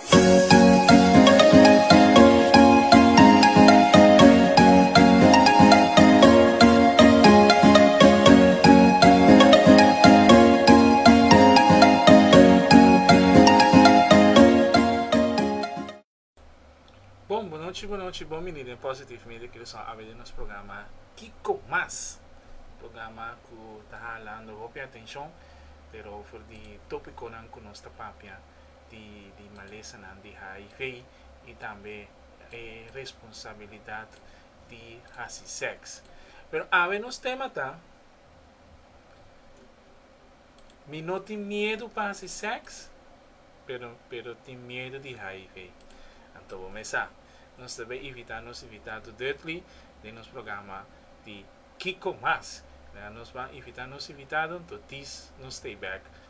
Bon bonochi bonochi bon bini den positive media ke lo son awe den nos programa Kiko Mas programa ku ta halando hopi atenshon pero for di topikonan ku nos ta papia di malesanan di hiv i tambe e responsabilidat di hasi sèks. Pero awe nos tema ta, Mi no tin miedu pa hasi sèks, pero pero tin miedu di hiv. Anto bo mes sa. Nos ta bai invitá nos invitado Dudley den nos programa di Kiko Mas. Nos ban invitá nos invitado, anto dis nos stay back.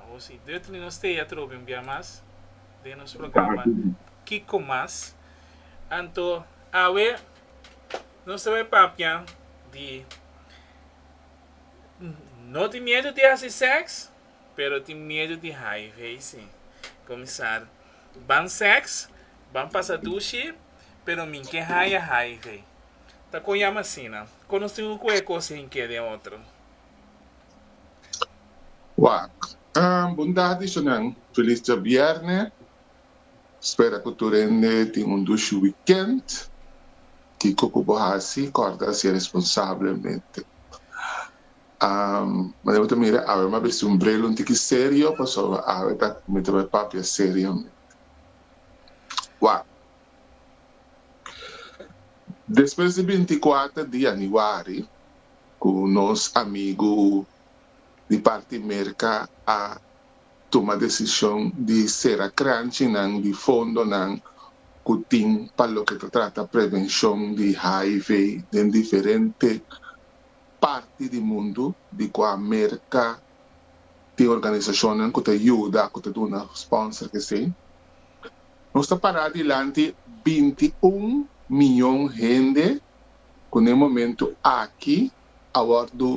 Awor si Dutch ni nos tea trobe un bia mas den nos programa Kiko Mas. Anto awe nos ta bai papia di no tin miedu di hasi seks pero tin miedu di haai veisi. Komisar ban seks, ban pasa dushi pero min ke haai a haai vei. Ta con yama asina. Con nos tin un cu e cos hen ke den otro. Wak. Bondad di sunan. Feliz djabierne. Spera cu tur hende tin un dushi weekend. Kico cu bo haci? Corda haci responsablemente. Mane bo ta mira awe m'a besti un bril un tiki serio pasobra awe ta mintaba e papia seriamente. Wak. Despues di binti kuater di yanüari ku nos amigu di parti Merka a tuma desishon di sera krantjinan di fondonan ku tin pa loke ta trata prevenshon di hiv den diferente parti di mundu di kua Merka tin organisashonnan ku ta yuda ku ta duna spònser esei. Nos ta pará dilanti binti un mion hende ku n'e momentu aki a wòrdu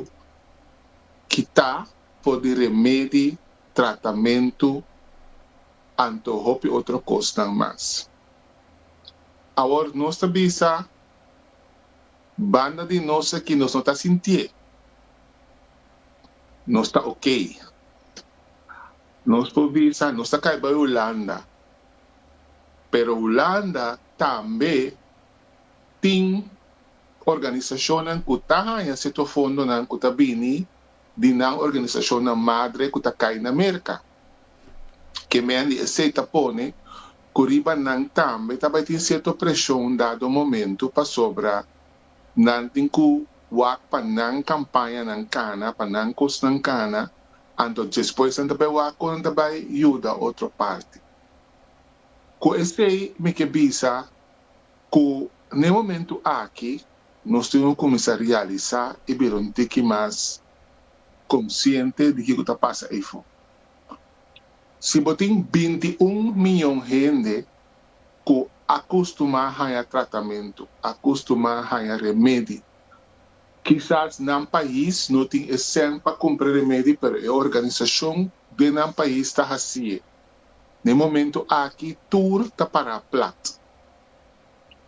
kitá for di remedi, tratamentu anto hopi otro kosnan mas. Awor nos ta bisa banda di nos aki nos no ta sintié nos ta okey. Nos por bisa, nos ta kai bai Hulanda, pero Hulanda tambe tin organisashonnan ku ta haña setor fondonan ku ta bini di nan organisashonnan madre ku ta kai na Merka. Ke mendi esei ta pone ku riba nan tambe ta bai tin sierto preshon dado momentu pasobra Nan tin cu wak pa nan campañanan cana, pa nan cosnan cana, anto despues nan ta bay wak cu nan ta bay yuda otro parti. Cu esey mi ke bisa cu n'e momento aki nos tin cu cuminsa realisa y bira un tiki mas consciente di kico ta pasa eyfor. Si bo tin binti un miyon hende ku a kustumá haña tratamentu, a kustumá haña remedi. Kisas nan pais no tin e sèn pa kumpra remedi pero e organisashon den nan pais ta hasi'e. Na e momentu aki tur ta pará plat.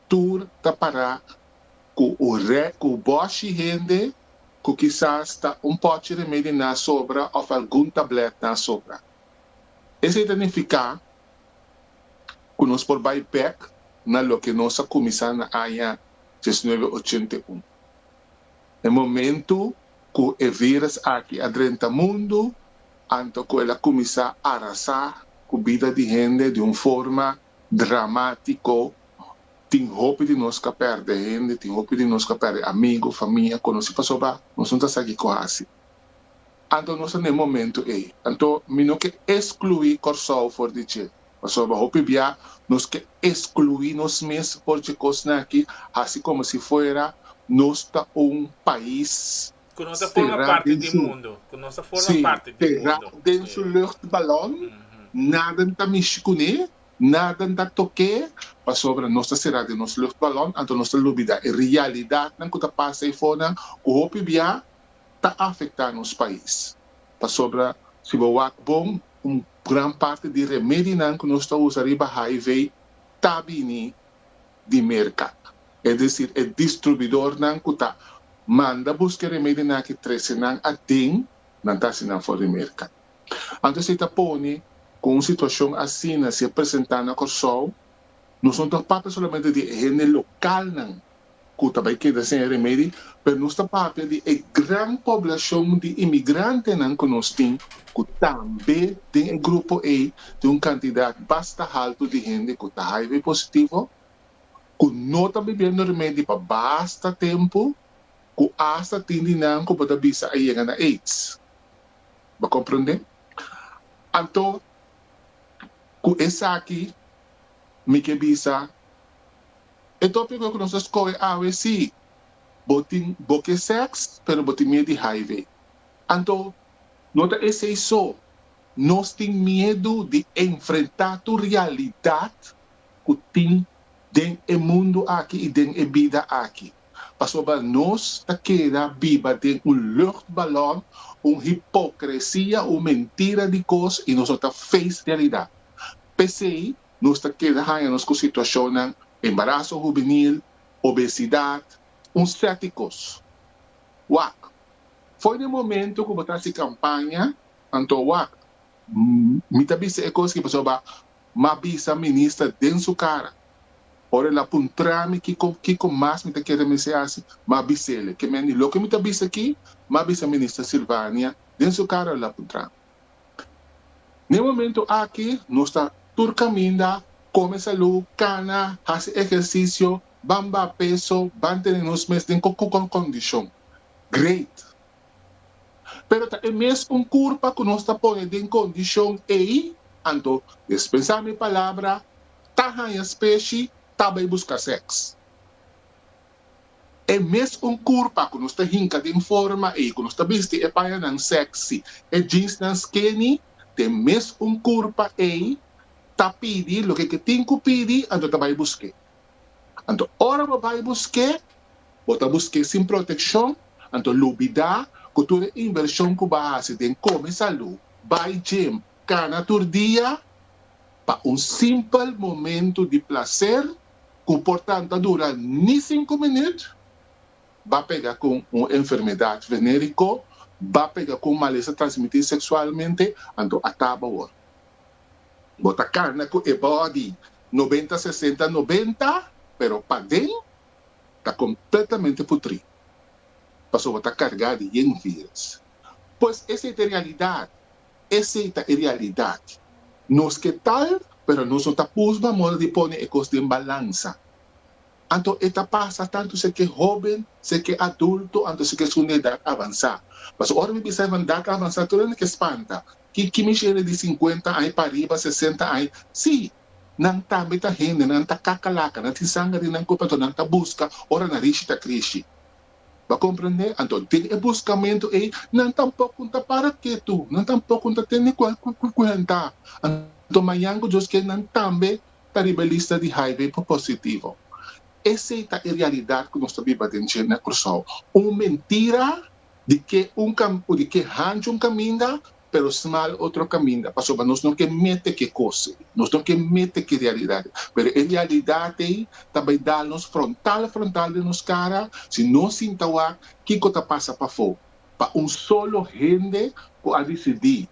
Tur ta pará ku un rè ku bòshi hende ku kisas ta un pòchi remedi nan a sobra òf algun tablèt nan a sobra. Esei ta nifiká cu nos por bay bek na loke nos a cuminsa na aña diesnuebe ochenta i un. E momento cu e virus aki a drenta mundo anto cu el a cuminsa arasa cu bida di hende di un forma dramatico, tin hopi di nos cu a perde hende, tin hopi di nos cu a perde amigo, famia, conoci, pasobra nos no ta sa kico haci. Anto nos ta na e momento ei. Anto mi no ke eskluí Kòrsou for di dje. Pasobra hopi bia nos ke eskluí nos mes for dje kosnan akí, hasi komo si fuera nos ta un pais será den su, sí, será den su luchtbalòn, nadan ta mishi kuné, nadan ta tok'é, pasobra nos ta será den nos luchtbalòn, anto nos ta lubidá e realidatnan ku ta pasa ei fonan, ku hopi bia ta afecta nos pais. Pasobra si bo wak bon un gran parti di remedinan cu nos ta usa riba HIV ta bini di merca. Es decir e distrubidornan cu ta manda busca e remedio na aki trece nan aden nan ta haci nan for di merca. Anto esey ta pone cu un situacion asina si a presenta na Corsou nos no ta papia solamente di e hende localnan cu ta bay keda sin e remedi, pero nos ta papia di e gran poblacion di imigrantenan cu nos tin, cu tambe den e grupo ey tin un cantidad basta halto di hende cu ta hiv positivo, cu no ta bibiendo remedi pa basta tempo, cu hasta tin di nan cu bo ta bisa a yega na aids. Bo comprende? Anto, cu esaki mi ke bisa. E tópiko ku nos ta skohe awe si bo tin bo ke sèks pero bo tin miedu di HIV. Anto. No ta esei so, nos tin miedu di enfrentá tur realidat ku tin den e mundu aki i den e bida aki, pasobra nos ta keda biba den un luchtballon, un hipokresia, un mentira di kos i nos no ta face realidat. P'esei nos ta keda haña nos ku situashonnan embaraso hubenil, obesidat, un sèti kos. Wak, Foi den momentu ku bo ta hasi kampaña, anto wak, mi ta bisa e kos ki pasobra bo a mas bisa minister den su kara. Ora el a puntra mi kiko kiko mas mi ta kere mester hasi, mi a bisa el, Kemendi, loke mi ta bisa aki, mi a bisa Minister Silvania den su kara, el a puntra mi. Na e momentu aki nos ta tur kaminda, kome salú, kana, hasi ehersisio, ban baha peso, ban tene nos mes den kukon kondishon. Great! Pero ta e mes un kurpa ku nos ta pone den kondishon ei? Anto des pensá mi palabra, ta haña speshi, ta bai buska sèks. E mes un kurpa ku nos ta hinka den forma ei ku nos ta bisti e pañanan seksi, e jeansnan skinny, den mes un kurpa ei ta pidi loke ke tin ku pidi, anto ta bai busk'é. Anto ora bo bai busk'é, bo ta busk'é sin protekshon, anto lubidá ku tur e invershon ku bo a hasi den kome salú, bai gim, kana tur dia pa un simpel momentu di plaser, cu por tan ta dura ni cinco minuut, ba pega con un enfermedad venerico, ba pega con malesa transmitir sexualmente, anto a taba awor. Bo ta cana cu e body noventa sesenta noventa, pero paden ta completamente putri, pasobra ta carga di yen virus. Pues esey ta e realidad. Esei ta e realidat. Nos ke tal, pero nos no ta pusba moda di pone e kos den balansa. Anto e ta pasa tantu si e ke hóben, si e ke adulto anto si e ke esun di edat avansá. Pasobra ora mi bisa esnan edat avansá tur nan e ke spanta, Kiki mi shele di sinkuenta aña pariba, sesenta aña? Sí, nan tambe ta hende, nan ta kakalaka, nan tin sanga den nan kuerpo anto nan ta buska ora nan richi ta krishi. Bo komprendé? Anto, den e buskamentu ei, nan tampoko no ta para ketu, nan tampoko no ta tene ku ku kuenta. Anto, mañan ku Dios ke nan tambe ta riba e lista di hiv positivo. Esei ta e realidat ku nos ta biba den dje na Kòrsou. Un mentira di ke un kam, di ke hanchi un kaminda. pero smal otro kaminda pasobra nos no ke mete ke kos ei, nos no ke mete ke realidat ei, pero e realidat ei ta bai dal nos frontal frontal den nos kara si nos sinta wak kiko ta pasa pafó pa un solo hende ku a disidí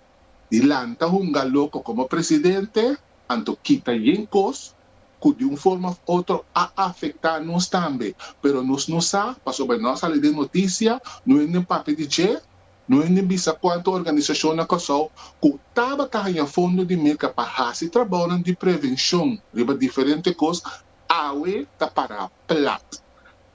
di lanta hunga loko komo presidente anto kita yen kos ku di un forma òf otro a afektá nos tambe pero nos no sa pasobra no a sali den notisia no hende papia di dje No hende bisa kuantu organisashon na Kòrsou ku tabata haña fondo di Meka pa hasi trabounan di prevenshon riba diferente kos, awe ta pará plat.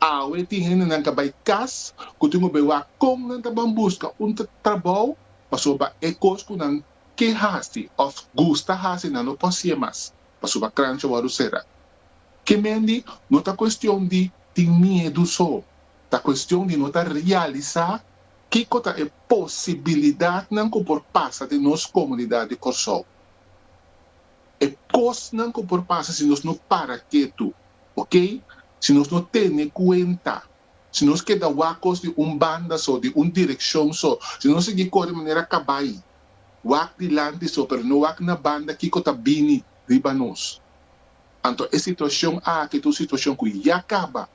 Awe tin hendenan ka bai kas ku tin obe wak kon nan ta ban buska un trabou pasobra e kos ku nan ke hasi òf gusta hasi nan no por sié mas pasobra krancha wòrdu sera. Ke mendi no ta kuestion di tin miedu so, ta kuestion di no ta realisá Kiko ta e posibilidatnan ku por pasa den nos komunidat di Kòrsou? E kosnan ku por pasa si nos no para ketu, okey, si nos no tene kuenta, si nos keda wakos di un banda so, di un direkshon so, si nos sigui kore manera kabai, wak dilanti so, pero no wak na banda, kiko ta bini riba nos? Anto e situashon aki ta un situashon ku ya kaba.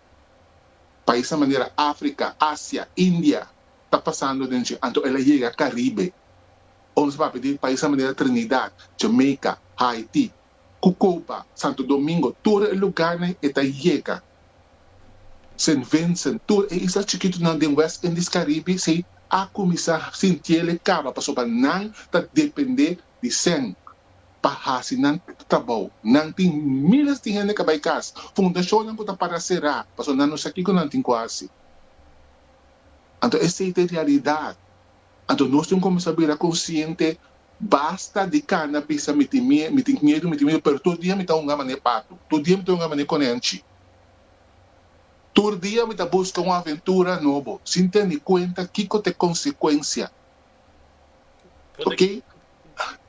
Paisnan manera Africa, Asia, India ta pasando den dje anto el a yega Caribe. Ora nos a papia di paisnan manera Trinidad, Jamaica, Haiti, cu Cuba, Santo Domingo, tur e lugarnan e ta yega. Saint Vincent, tur e isla chikitonan den West Indies Caribe si a cuminsa sintiele caba pasobra nan ta depende di sèn pa hasi nan trabou. Nan tin míles di hende ka bai kas, fundashonnan ku ta para será pasobra nan no sa kiko nan tin ku hasi. Anto esei ta e realidat. Anto nos tin ku kuminsá bira konsiente, basta di kana bisa mi tin mie, mi tin miedu, mi tin miedu, pero tur dia mi ta hunga mané patu, tur dia mi ta hunga mané konènchi, tur dia mi ta buska un aventura nobo sin tene kuenta kiko ta e konsekuensia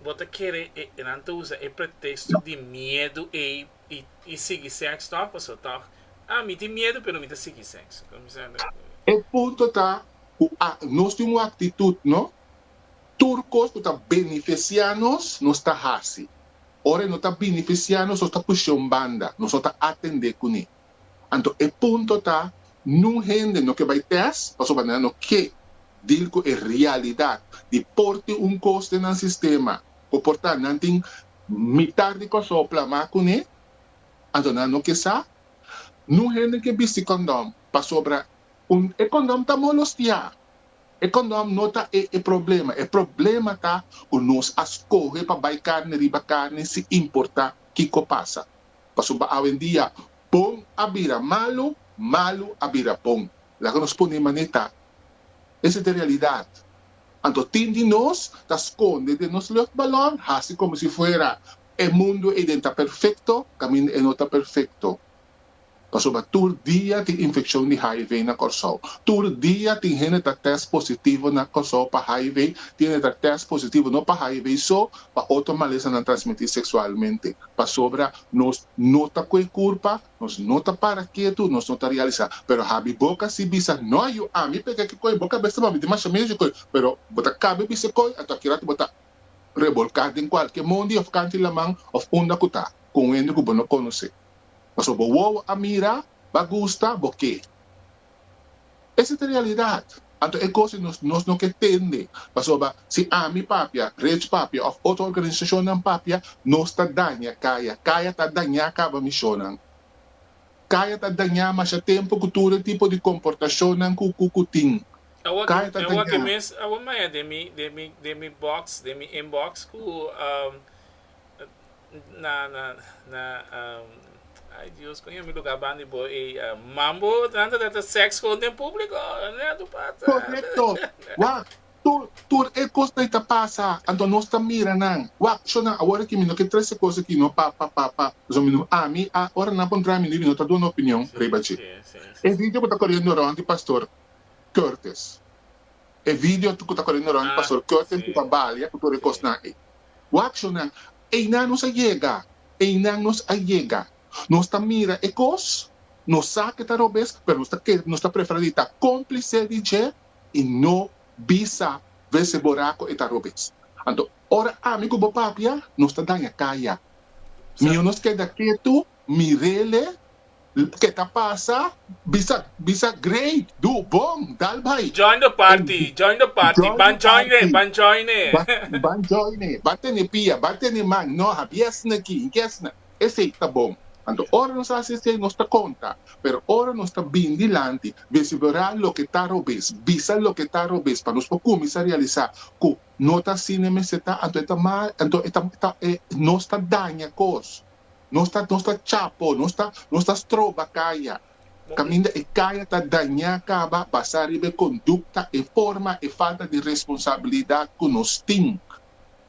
Bo ta kere e nan ta usa e pretexto di miedu ey y sigui sexo tog? Paso tog ah mi tin miedu pero mi ta sigui sexo. E punto ta cu nos tin un actitud no, tur cos cu ta beneficia nos, nos ta haci. Ora e no ta beneficia nos, nos ta pushe un banda, nos no ta atende cune. Anto e punto ta, nun hende no ke bai tèst pasobra nan no ke dil ku e realidat di por tin un kos den nan sistema ku por ta nan tin mitar di kòrsou plamá kuné, anto nan no ke sa. Nun hende ke bisti kondòm pasobra un e kondòm ta molostiá. E kondòm no ta e e problema, e problema ta ku nos a skohe pa bai karni riba karni sin importá kiko pasa. Pasobra pa awendia bon a bira malu, malu a bira bon. Laga nos pone manera ta. Esa ta e realidad. Anto tin di nos ta sconde den nos luchtbalon, haci como si fuera e mundo ey den ta perfecto, caminda ey no ta perfecto. Pasobra tur dia tin infeccion di hiv na Corsou. Tur dia tin hende ta test positivo na Corsou pa hiv, tin hende ta test positivo no pa hiv so, pa otro malesanan transmiti sexualmente. Pasobra nos no ta coe curpa, nos no ta para ketu, nos no ta realisa. Pero habi boca si bisa, no a yu ami p'e ke ke coe, bo ka besta mami dimasha mezi coe. Pero bo ta cabe bisa e coe, anto akiratu bo ta rebolca den cualkier mondi of kanti laman of unda cu ta, con hende cu bo no conoce. Paso bo wowo a mira, b'a gusta, bo ke. Ese ta realidad. Anto e cos ei nos nos no ke tende, pasoba si ami papia, Rich papia of otro organisacionnan papia, nos ta daña caya. Caya ta daña caba misionnan. Caya ta daña masha tempo cu tur e tipo di comportacionnan cu cu cu tin. Awa Caya ta awa daña. ke mes awa maya den mi den mi den mi box, den mi inbox cu. Korekto, wak, tur e kos dei ta pasa, anto nos ta mira nan. Wak, shona, awor aki mi no ke trese kos aki no pa, pa, pa, pa, pasobra mi no ami, a, ora nan por dra mi di mi no ta duna opinion riba dje. E video ku ta koriendo rònt di Pastor Curtis. E video cu ta coré Noronha Pastor Curtin cu ta balia cu tur e cosnan ey. Wakshonan, Eynan nos a yega! Eynan nos a yega! Nos ta mira e cos, nos sa ke ta robes, pero nos ta kere, nos ta prefera di ta complice di dje y no bisa vez se bora cu e ta robes. Anto, ora ami cu bo papia, nos ta daña caya. Miho nos keda ketu, mirele. Ke ta pasa? Bisa bisa grei, du, bon, dal bai. Join the party, join the party, ban joine, ban joine. Ban joine, ban tene pia, ban tene man, no ha biesna aki, hi gesna. Esei ta bon. Anto ora nos hasi esei nos ta konta, pero ora nos ta bin dilanti, vesiberá loke ta robes, bisa loke ta robes pa nos por kuminsá realisá ku no ta asina mester ta, anto e ta mal, anto e ta, nos ta daña kos. Nos ta nos ta chapo, nos ta nos ta stroba kaya, kaminda e kaya ta dañá kaba basá riba e kondukta, e forma, e falta di responsabilidat ku nos tin.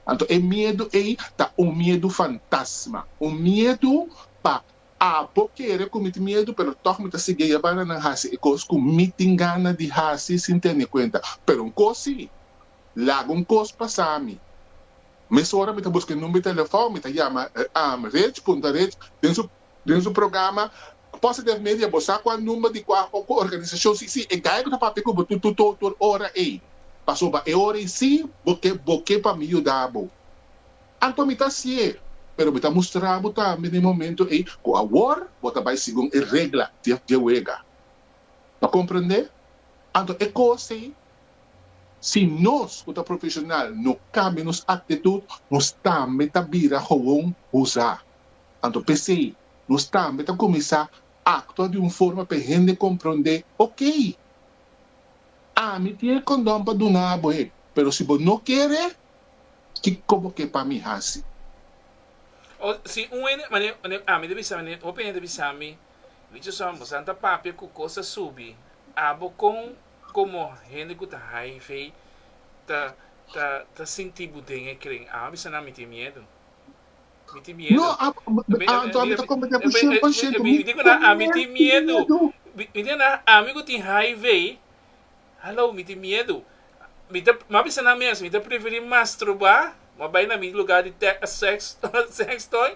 Anto e miedu ei ta un miedu fantasma, un miedu pa abo kere kumiti miedu pero tòg mi ta sigui a yabana nan hasi e kos ku mi tin gana di hasi sin tene kuenta. Pero un kos si, Laga un kos pasa mi. Mesora mi ta buska e number di telefòn, mi ta yama Rich, punta Rich den su den su programa, Posse Def Media bo sa kua number di kua organisashon si si e gaya ku ta papia ku bo tutu to tur ora ei, pasobra e ora ei si bo ke bo ke pa mi yuda bo. Anto mi ta hasié, pero mi ta mustra bo tambe den momento ei ku awor bo ta bai segun e regla di e wega. Bo a komprendé? Anto e kos ei Si nos ku ta profeshonal no kambia nos aktitut, nos tambe ta bira howon husá. Anto p'esei, nos tambe ta kuminsá aktua di un forma p'e hende komprondé, Okey, ami tin e kondòn pa duna bo e, pero si bo no kere, kiko bo ke pa mi hasi? O si un hende, mane, mane, ami ta bisa, mane, hopi hende ta bisa mi, Richardson, bo sa ta papia ku kos ta subi abo kon? Komo hende ku ta hiv ta ta ta sinti bu den e kren? Aba bisa nan mi tin miedu. Mi tin miedu. No, a mi a anto ami ta komprende ku shen por shento. Mi tin miedu. Mi tin miedu. Mi tin miedu. Ami ku tin hiv, halou mi tin miedu. Mi ta mi a bisa nan mes mi ta preferi masturba, mi a bai na mi luga di te sex sex toy.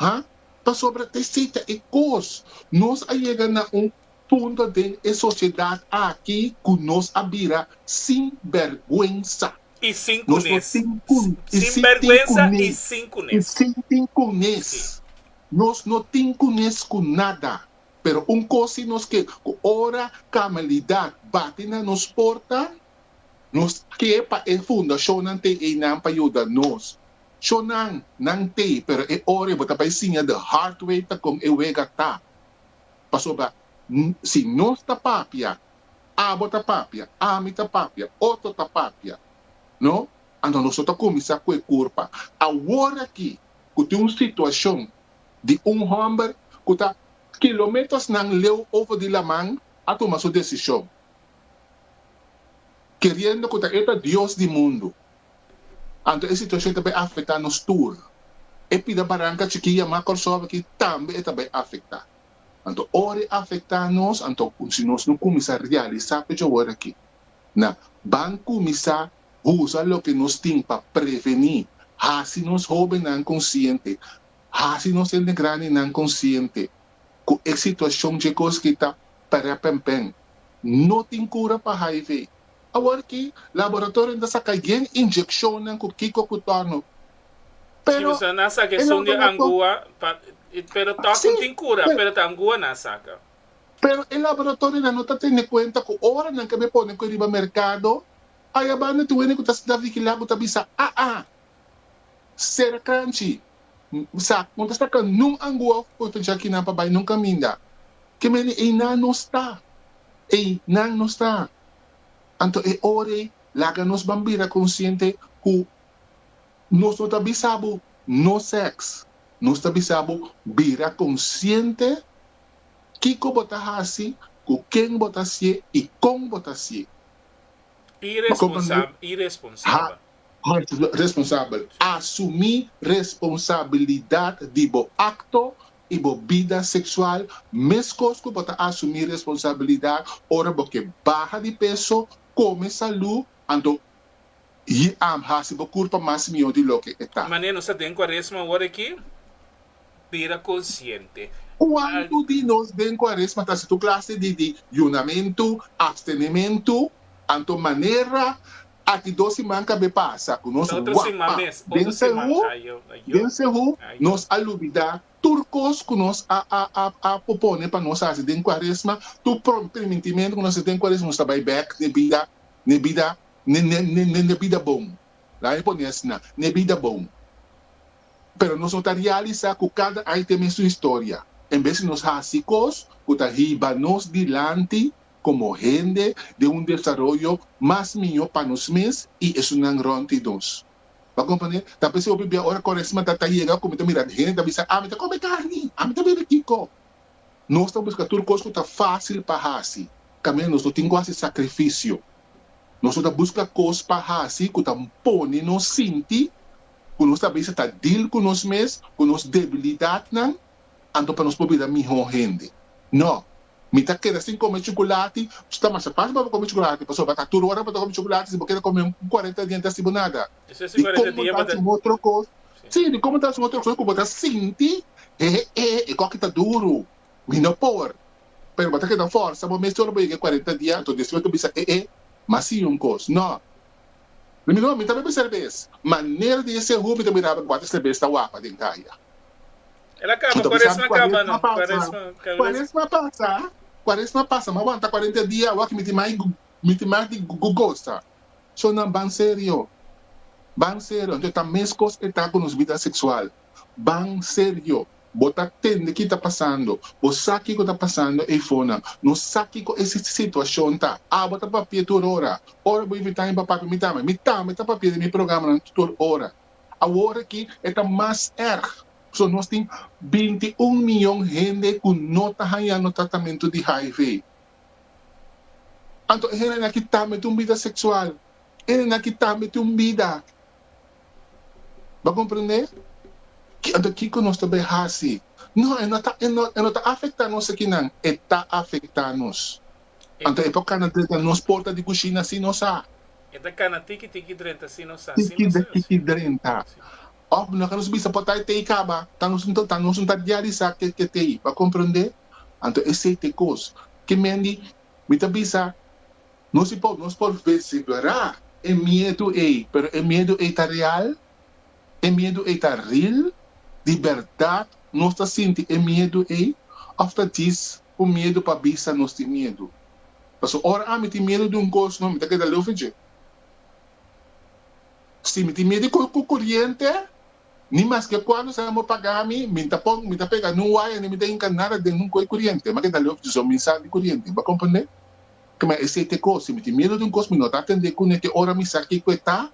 ha? Pasobra ta esei e kos, nos a yega na un punto den e sosiedat aki ku nos a bira sin bèrgwensa i sin kunes, sin bèrgwensa i sin kunes, si. Nos no tin kunes ku nada, pero un kos si nos ke ku ora kamalidat bati na nos porta, Nos ke pa e fundashonnan t'e einan pa yuda nos. Shonnan, nan t'e, pero e ora bo ta bai siña the hard way ta kon e wega ta. Pasobra si nos ta papia, abo ta papia, ami ta papia, otro ta papia, no? Anto nos lo ta kuminsá ku e kurpa. Awor aki ku tin un situashon di un hòmber ku ta kilometersnan leu over di laman a tuma su desishon. keriendo ku ta e ta dios di mundu. Anto e situashon ta bai afektá nos tur. E pida baranka chikí yamá Kòrsou akí tambe e ta bai afektá. Anto ora e afektá nos, anto ku si nos no kuminsá realisá ku djaworakí nan ban kuminsá usa loke nos tin pa prevení, hasi nos hóbennan konsiente, hasi nos hende grandenan konsiente ku e situashon dje kos ki ta Tarea Pempen, No tin cura pa hiv. Awor aki, laboratorionan ta saca yen inyeccionnan cu kico cu tor no. Si, Pero, boso na saca e esun di laborator. angua, pa, y, pero tor cu Así, tin cura, pero, pero ta angua na saca. pero e laboratorionan no ta tene cuenta cu ora nan caba e pone cu e riba mercado, ayabando tin wene cu ta sna vigila cu ta bisa, ah, ah. Sera cranchi. Sa con ta saca nun angua of por ta dja kinan pa bay nun caminda. Ke mende ey nan no sta. Ey nan no sta. Anto e ora ey laga nos ban bira consciente cu nos no ta bisa bo no sex. Nos ta bisa bo bira consciente kico bo ta haci, cu ken bo ta hacié y con bo ta hacié. Iresponsab, iresponsaba. Ha. Mas responsabel, Asumí responsabilidat di bo akto i bo bida seksual meskos ku bo ta asumí responsabilidat ora bo ke baha di peso, kome salú, anto y am hasi bo kurpa mas mihó di loke e ta. Manera nos ta den Kuaresma ora aki, bira konsiente. Kuantu di nos den Kuaresma ta hasi tur klase di di yunamentu, apstenementu? Anto manera aki dos siman kab'é pasa ku nos wap'a den Sehu? Den Sehu nos a lubidá tur kos ku nos a a a popone pa nos hasi den Kuaresma, tur promintimentu ku nos hasi den Kuaresma, nos ta bai bèk n'e bida, n'e bida, n'e n'e n'e n'e bida bon. Lami pone asina, n'e bida bon. Pero nos no ta realisá ku kada ai tene su historia. En bes di nos hasi kos ku ta hiba nos dilanti komo hende den un desaroyo mas mihó pa nos mes i esunnan rònti nos. Bo a komprendé? Ta p'esei hopi bia ora Koresma ta yega ku mi ta mira hende ta bisa, ami ta kome karni, ami ta bebe kiko. Nos ta buska tur kos ku ta fásil pa hasi, kaminda nos no tin ku hasi sakrifisio. Nos no ta buska kos pa hasi ku ta pone nos sinti ku nos ta bisa ta dil ku nos mes ku nos debilidatnan anto pa nos por bira mihó hende. Nò, mi ta keda sin kome chukulati, ta masha fásil pa bo kome chukulati pasobra bo ta tur ora pa ta kome chukulati si bo keda kome un kuarenta diente hasi bo nada. Di kon bo ta hasi un otro kos, sí, di kon bo ta hasi un otro kos ku bo ta sinti, hehehé, e kòki ta duru. Mi no power, pero bo ta keda forsa bo mes solo pa yega e cuarenta dia, anto despues bo ta bisa ee, mas si un cos, no. Ri mi no, mi ta bebe serbes, manera di e sehu mi ta miraba e cuater serbes ta wapa den caya. El a caba, cuaresma caba no, cuaresma, cal vez. Cuaresma pasa, cuaresma pasa, mi a wanta cuarenta dia awa cu mi tin mas, mi tin mas di gosa. So nan ban serio, ban serio, anto e ta mes cos e ta cu nos bida sexual. Ban serio. Bo ta tende ki ta pasando. Bo sa kiko ta pasando eifona. No sa kiko e situashon ta. Abo ta papia tur ora. Ora bo invita mi pa papia mi tambe. Mi tambe ta papia den mi programanan tur ora. Awor aki e ta mas erg. Paso nos tin binti un miyon hende ku no ta hañando tratamentu di hiv. Anto e hendenan aki tambe tin un bida seksual. E hendenan aki tambe tin un bida. Bo a komprendé? Anto kiko nos ta bai hasi? No, e no ta, e no, e no ta afektá nos akinan. E ta afektá nos. Anto e por kana drenta nos porta di kushina sin nos sa. E ta kana tiki tiki drenta sin nos sa, sin Tiki nos sa. tiki drenta. Sí. Òf, no ke nos bisa po ta e tei kaba, ta nos un, ta nos un ta diarisá ke ke tei. Bo a komprendé? Anto esei te kos. Kimendi mi ta bisa Nos por nos por versiblerá e miedu ei, pero e miedu ei ta real? E miedu ei ta ril? Di bèrdat nos ta sinti e miedu ei òf ta djis ku miedu pa bisa nos tin miedu? Pasobra ora ami tin miedu di un kos no mi ta keda luf'e dje. Si mi tin miedu di koriente, Ni maske kuandu esnan por paga mi, mi ta pon, mi ta pega nun waya ni mi ta hinka nada den un koi kuriente. M'a keda lef dison mi sa di kuriente. Bo a komprendé? Kma esei t'e kos. Si mi tin miedu di un kos, mi no ta atend'é kuné te ora mi sa kiko e ta,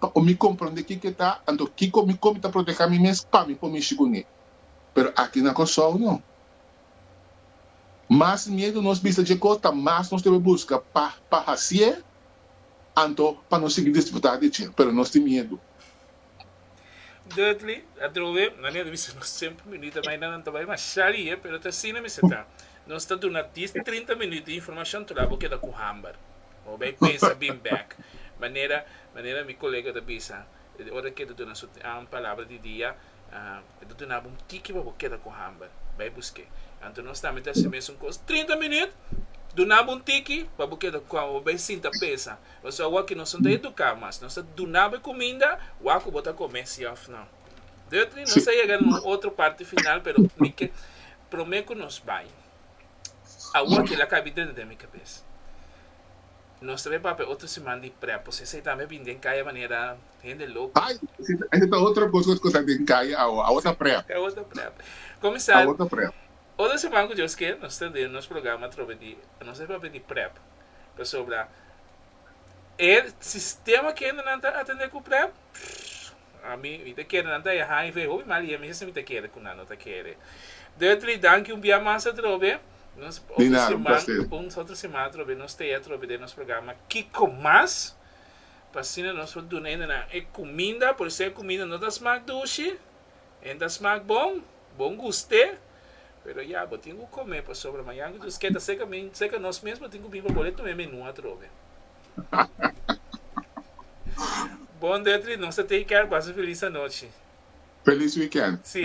pa mi komprond'é kiko e ta, anto kiko mi kon mi ta protehá mi mes pa mi por mishi kuné. Pero aki na Kòrsou no. Mas miedu nos bisa dje kos ta mas nos debe buska pa pa hasié, anto pa nos sigui disfrutá di dje. Pero nos tin miedu. Dudley, Atrobe, manera mi sa nos tempu minuto mai nan nan ta bai masha rie pero ta asina mi sa ta. Nos ta duna dies trinta minuto di informacion tur la bo keda cu hamber. Bo bai pensa bin bek manera manera mi colega ta bisa e ora ke ta duna su palabra di dia e ta dunabo un tiki pa bo keda cu hamber. Bai buske. Anto nos tambe ta hasi mesun cos trinta minuto dunabo un tiki pa bo keda cu hamber bo bai sinta pensa. Pasobra awa ku nos no ta eduká mas, nos ta duna bo e kuminda, wak ku bo ta kom'é, si òf nò. Duttley, nos a yega na un otro parti final, pero mi ke promé ku nos bai. Awa kila kabi dentro den mi kabes. Nos ta bai papia e otro siman di Prepos, esei tambe a bini den kaya manera hende loko. Ai, esei ta otro kos ku ta den kaya awa, awa ta Prep. Si, awa ta Prep. Komisar, otro siman ku Dios kel, nos ta den nos programa atrobe di, nos a bai papia di Prep. Pasobra e sistema kende nan ta atende ku prèp, pff, a mi mi ta kere nan ta e hiv, hopi mal i e mihessa mi ta kere ku nan no ta kere. Dutry, danki un bia mas atrobe. Nos Di otro nada, un siman, placer. un otro siman atrobe nos ta e atrobe den nos programa Kiko Mas, pa asina nos por duna hendenan e kuminda, por esei kuminda no ta smak dushi, En ta smak bon, bon gust'é, pero ya bo tin ku kom'é pasobra mañan ku dios ke ta seka mi, seka nos mes bo tin ku bini pa bol'é tum'é menú atrobe. Bon Detri, nos ta take care, pasa un felis anochi. Felis weekend. Sí.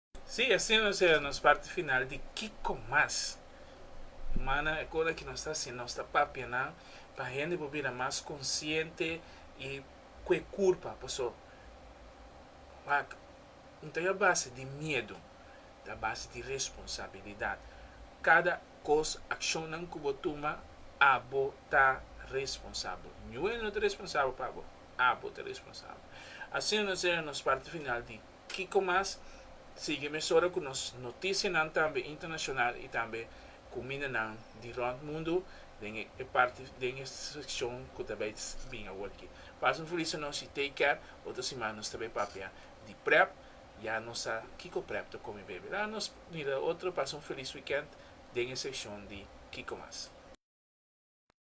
Sí, asina nos a nos parti final di Kiko Mas Humannan e cosa ki nos ta haciendo, nos ta papia nan pa hende por bira mas consciente y cu e curpa, paso wak no ta a base di miedo, ta a base di responsabilidad, cada cos, accionnan cu bo tuma abo ta responsable, Ñuel no ta responsable pa abo, abo ta responsable, asina nos a nos parti final di. Kiko mas? Sigui mesora ku nos notisianan tambe internashonal i tambe ku mindanan di rònt mundu den e parti den e sekshon ku ta bai bin awor aki. Pas un felis a nos i take care. Otro siman nos ta bai papia di prep. Ya nos sa kiko prep ta komi baby. Laga nos mira otro. Pas un felis wikènt den e sekshon di Kiko mas.